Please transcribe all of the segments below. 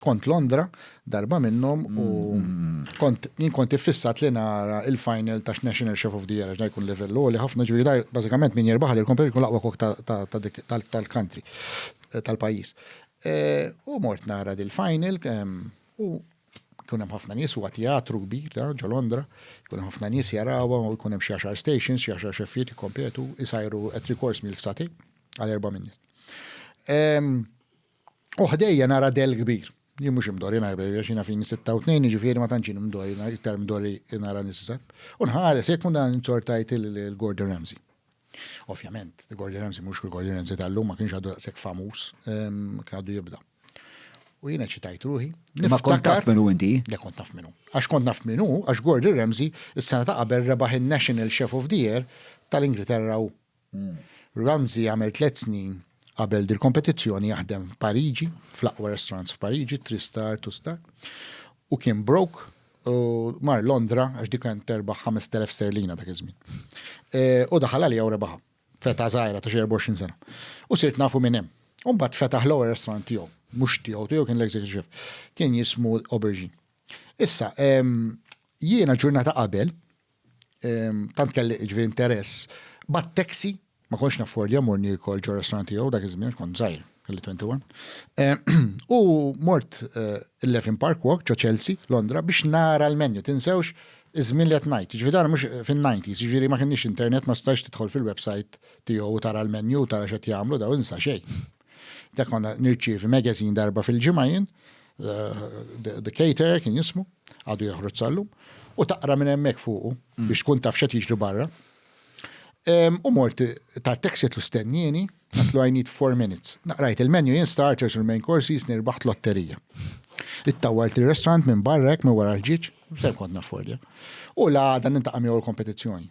kont Londra darba minnhom u kont jien kont iffissat li nara il-final ta' National Chef of the Year għax jkun livell li ħafna ġifieri da bażikament min jirbaħ li l-kompetizzjoni jkun l-aqwa kok tal-country tal-pajjiż. U mort nara dil-final u jkun hemm ħafna nies huwa teatru kbir ġo Londra, jkun hemm ħafna nies jarawha u jkun hemm xi għaxar stations, xi għaxar xeffijiet jikkompetu, isajru three course meal f'sati għal erba' min. U ħdejja nara dell kbir. Jien mhux imdorri nara bejja xina fini 86 jiġifieri ma tantx imdorri nara iktar imdorri nara nisa. U nħares jekk munda nzortajt il-Gordon Ramsay. Ovvjament, Gordon Ramsay mhux il-Gordon Ramsay tal-lum ma kienx għadu daqshekk famuż, ehm, kien għadu jibda. U jiena ċitajt ruħi. Ma kont taf minnu inti? Le kont taf minnu. Għax kont taf minnu, għax Gordon Ramsay, is-sena ta' qabel rebaħ il-National Chef of the Year tal-Ingilterra u Ramsey għamel tliet snin qabel dil-kompetizzjoni jaħdem f'Pariġi, fl-aqwa restaurants f'Pariġi, Three Star, Two Star, u kien broke u mar Londra għax dik kienet terbaħ 5,000 sterlina dak iż-żmien. U daħal għaliha u rebaħha feta żgħira ta' xi 24 sena. U sirt nafu minn hemm. U mbagħad fetaħ l-ewwel restaurant tiegħu, mhux tiegħu, tiegħu kien l-executive chef. Kien jismu Aubergine. Issa, jiena ġurnata qabel, tant kelli ġviri interess, bat taxi, ma konx naffordja morni kol ġo restaurant tiegħu dak iż-żmien kont żgħir, kelli 21. U mort il-Levin Park Walk ġo Chelsea, Londra, biex nara l-menu, tinsewx iż-żmien li qed ngħid. Ġifieri dan mhux fin-90s, ġifieri ma kienx internet ma stax tidħol fil-website tiegħu u tara l-menu, tara x'qed jagħmlu daw insa xejn. Dak konna nirċievi magazine darba fil-ġimgħa jien, The Caterer kien jismu, għadu joħroġ sallum, u taqra minn hemmhekk fuqu mm. biex tkun taf xed jiġri barra. U mort ta' texet lu stennieni, għatlu I need four minutes. Naqrajt il-menu jien starters u l-main courses nirbaħt lotterija. Ittawart il-restaurant minn barrek minn wara l-ġiġ, ser kont naffordja. U la dan intaqam jew l-kompetizzjoni.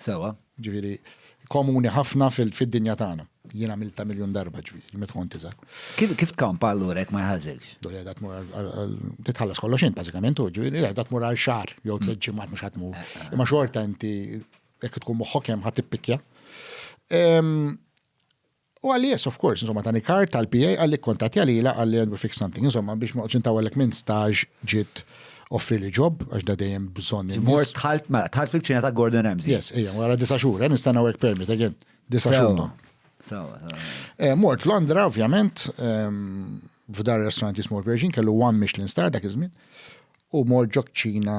Sewwa. Ġifieri, komuni ħafna fid-dinja tagħna. Jien għamiltha miljun darba ġifieri, meta kont iżgħar. Kif tkampa allura jekk ma jħażilx? Dun qiegħda tmur għal titħallas kollox int bażikament u ġifieri qiegħda tmur għal xahar jew tliet ġimgħat mhux qed tmur. Imma xorta inti jekk tkun moħħok hemm ħa tippikkja. U qalli yes of course, insomma tani card tal-PA qalli kkuntattja lilha qalli and we fix something, insomma biex ma noqgħodx intawwellek minn stage ġiet offrili job għax da dejjem bżonn in-nies. Immort dħalt mela dħalt fil-kċina ta' Gordon Ramsay. Yes, ejja, wara disa' xhur, eh, nistenna work permit again. Disa' xhur. Sewa, sewa, sewa. Eh, Mort Londra ovvjament, ehm, f'dar restaurant jismu l-Persian, kellu one Michelin star dak iż-żmien, u mort ġo kċina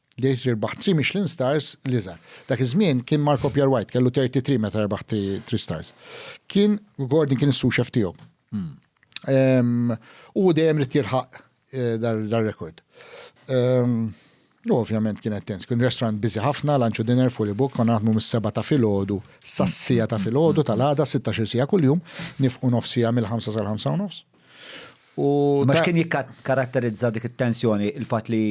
Dejt li rbaħt tri Michelin Stars l-iżgħar. Dak iż-żmien kien Marco Pierre White kellu 33 meta rbaħ tri stars. Kien Gordon kien is-suxef tiegħu. Hmm. U dejjem rid jirħaq eh, dar-rekord. U ovvjament kien tens, kien restaurant bizi ħafna, lunch u dinner, fully book, kon naħdmu mis-seba ta' filgħodu, sassija ta' filgħodu tal-għada, 16 sija kuljum, nifqu nofsija mill-5 sal-5 u nofs. U ma kien jikkaratterizza dik it-tensjoni il-fatt li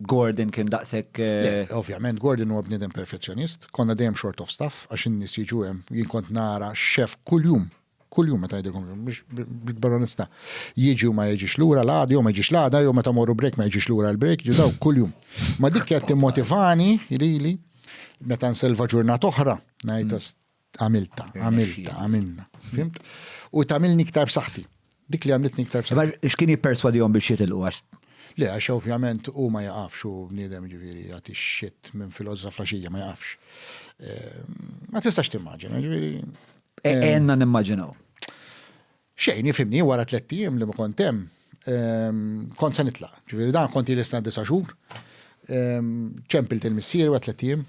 Gordon kien daqshekk. Le, eh, ovvjament Gordon huwa bniedem perfezzjonist, konna dejjem short of staff għax in-nies jiġu hemm, jien kont nara xef kuljum, kuljum meta jgħidilkom biex bil-baronista jiġi u ma jiġix lura l-għada jew ma jiġix l-għada jew meta morru break ma jiġix lura l-break, jiġu daw kuljum. Ma dik qed timmotivani lili meta nselva ġurnat oħra, ngħid għamilta, għamilta, għamilna. Fimt? U tamilni iktar b'saħħti. Dik li għamiltni iktar b'saħħti. X'kien jipperswadihom biex jitilqu għax? Le, għax ovvjament u ma jaqafx u bniedem ġifieri jagħti xit minn filozza flaxija ma jaqafx. Ehm, ma tistax timmaġina, ġifieri. Għenna ehm, nimmaġinaw. Xejn, ifhimni, wara tlett ijiem li ma kont hemm, kont se nitlaq. Ġifieri dan kont ili nistenna disa' xhur. Ċempilt il-missieri wara tlett ijiem,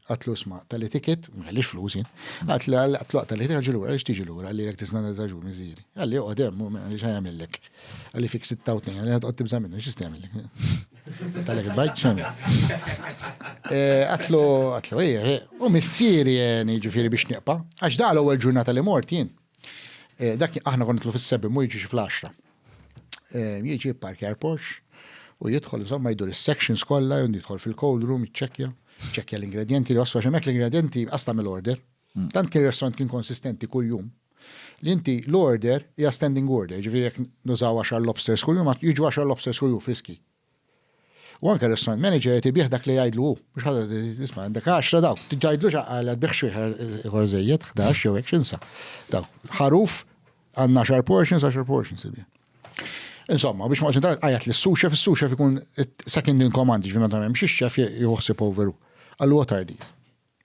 għatlu sma' tali ticket, ma kellix flus jien. Għatlu għatlu tali ticket, ġi lura, għaliex tiġi lura, għalli jekk tistenna disa' xhur missieri. Għalli joqgħod hemm, għaliex ħa jagħmillek. Għalli fik sitta u tnejn, għalli ħa toqgħod tibża' minnu, x'jista' jagħmillek. Talek il-bajt x'għamil. Għatlu, għatlu, ejja, u missieri għeni ġifieri biex nieqpa', għax da l-ewwel ġurnata li mort jien. Eh, dak aħna konna nitlu fis-sebbi mu jiġix fl-10. Eh, jiġi parkjar Porsche u jidħol insomma jdur is-sections kollha u jidħol fil-cold room jiċċekkja, ċekkja l-ingredienti li waslu għax l-ingredienti qas tagħmel order. Mm. Tant kien restaurant kien konsistenti kuljum li inti l-order hija standing order, ġifieri jekk nużaw 10 lobsters kuljum, jiġu 10 lobsters kuljum friski. U anke r-restaurant manager qed ibigħ dak li jgħidlu hu. Mhux ħadd qed jgħid, isma' għandek għaxra dawk, tgħidlux għaqal qed tbigħ xi wieħed ieħor żejjed, ħdax jew hekk x'insa. Dawk, ħaruf għandna għaxar portions, għaxar portions ibigħ. Insomma, biex ma qosni għajat li s-suxef, s-suxef ikun second in command, ġvina ta' memx, xef juħsib overu. Għallu għatar dit.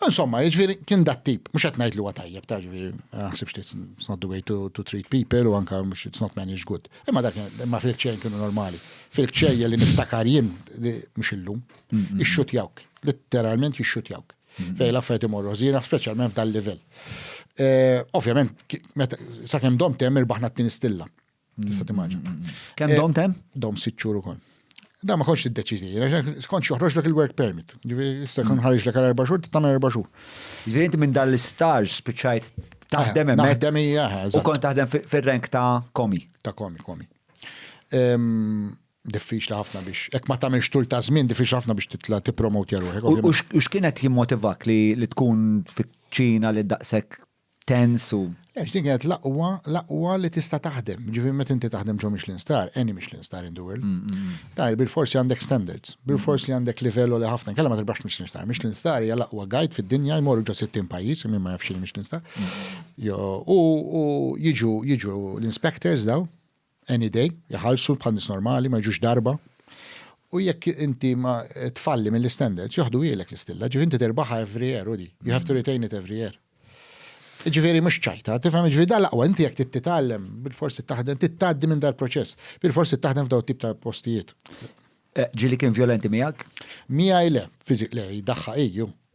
Insomma, jiġifieri kien dat tip, mhux qed ngħid li huwa tajjeb, ta' ġifieri, ma ħsibx li it's not the way to, to treat people u anke mhux it's not managed good. Imma dak imma fil-ċejn kienu normali. Fil-ċejja li niftakar jien mhux illum, ixxutjawk, litteralment jixxutjawk. Fej l-affarijiet imorru ħżiena, speċjalment f'dal livell. Eh, ovvjament, sakemm dom temm irbaħna t-tieni stilla. Tista' timmaġin. Kemm dom tem? Dom sitt xhur ukoll. Da ma konx tiddeċidi, skont joħroġ lek il-work permit. Ġifieri issa kon ħarġ lek għal erba' xhur, tagħmel erba' xhur. Ġifieri inti minn dan l-istaġ spiċċajt taħdem hemmhekk. Taħdem hija U kont taħdem fir-rank ta' komi. Ta' komi, komi. Diffiċli ħafna biex, hekk ma tagħmilx tul ta' żmien, diffiċli ħafna biex titla' tippromotja ruħek. U x'kienet jimmotivak li tkun fiċ-Ċina li daqshekk tens u. Le, x'din kienet l-aqwa, l-aqwa li tista' taħdem. Ġifieri meta inti taħdem ġo Michelin Star, any Michelin Star in the world, tajr bil-forsi għandek standards, bil-fors li għandek livell li ħafna kella ma tirbax Michelin Star. Michelin Star hija l-aqwa guide fid-dinja jmorru ġo 60 pajjiż, min ma jafx Michelin Star. U jiġu jiġu l-inspectors daw, any day, iħallsu bħal nies normali, ma jiġux darba. U jekk inti ma tfalli mill-istandards, joħdu ilek l-istilla, ġifieri inti terbaħha every year, Udi. You have to retain it every year. Ġifieri mhux ċajta, tifhem ġifieri dan laqwa inti jekk titgħallem bil-forsi taħdem titgħaddi minn dal-proċess, bil-forsi taħdem f'daw tip ta' postijiet. Eh, ġili kien violenti miegħek? Miegħi le, fiżik le, daħħa iju.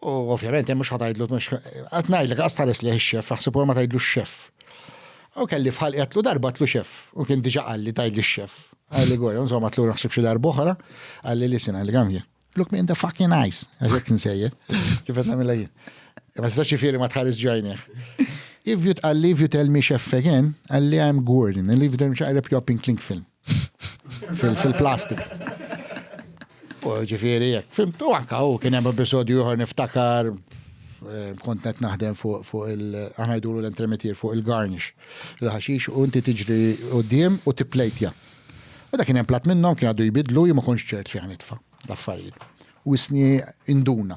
U ovvjament hemm mhux ħatajdlu mhux qed ngħidlek qas tħares leh ix-xef, aħseb ma tgħidlu x-xef. U kelli fħal qedlu darba tlu xef, u kien diġà qalli tgħidli x-xef. Għalli gorja, insomma tlu naħseb xi darba oħra, għalli li sena li għamje. Look me in the fucking eyes, għazek nsejje, kif qed nagħmilha jien. Ma tistax xifieri ma tħares ġajnih. If you tqalli, if you tell me chef again, għalli I'm Gordon, and if you tell me chef, I rip you up in clink film. fil-plastik. U ġifiri, jek, fimtu anka u kien hemm episodju ieħor niftakar eh, kont qed naħdem fuq il-ħajdulu l-entremetier fuq il-garnish il-ħaxix u inti tiġri qudiem u tipplejtja. U dak kien hemm plat minnhom kien għadu jbidlu jien ma kontx ċert fejn nitfa' l-affarijiet. U isni induna.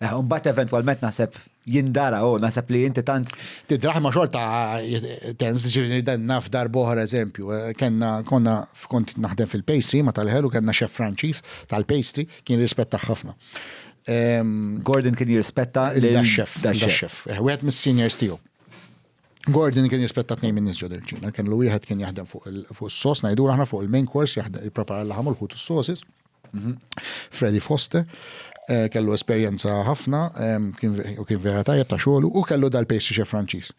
Eh, u mbagħad eventwalment naħseb jindara u naħseb li inti tant. Tidraħ ma xorta tens ġifieri dan naf darbohra eżempju. Eh, kenna konna kont naħdem fil-pastry ma tal-ħelu kenna xef Franċiż tal-pastry kien rispetta ħafna. Gordon kien jirrispetta l-xef. L-xef. Eh, wieħed mis-seniors tiegħu. Gordon kien jispetta tnejn minn nisġu dirċina, kien l wieħed kien jaħdem fuq il-sos, najdu aħna fuq il-main course, jiprepara l-ħamul ħut s-sosis. Mhm. Freddy Foster, eh, kellu esperjenza ħafna, u kien vera tajjeb ta' xogħlu, u kellu dal-pastry chef Franċiż.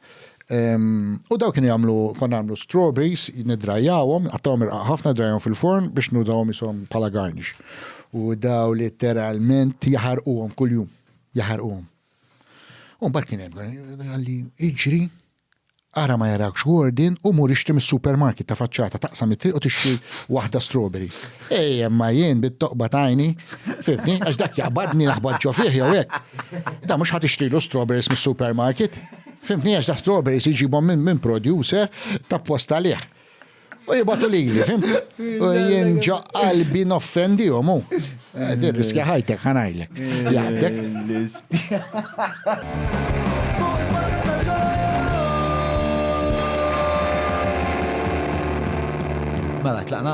U daw kienu jagħmlu, konna nagħmlu strawberries, nidrajawhom, għattawhom irqa ħafna drajhom fil-forn biex nudawhom isom bħala garnish. U daw literalment jaħarquhom kuljum, jaħarquhom. U mbagħad kien hemm għalli iġri Ara ma jarawkx Gordon u mur ixtri mis-supermarket ta' faċċata taqsam it-triq u tixtri waħda strawberries. Ej imma jien bit-toqba t'għajni, fhimtni, għax dak jaqbadni naħbat ġo fih jew hekk. Dan mhux ħa tixtrilu strawberries mis-supermarket. Fhimtni għax dak strawberries iġibhom minn producer t'apposta għalih. U jibatu li li, fim? U jien ġo qalbi noffendi u mu. Eh, Dir riskja ħajtek ħanajlek. Jgħaddek. Mela, tlaqna?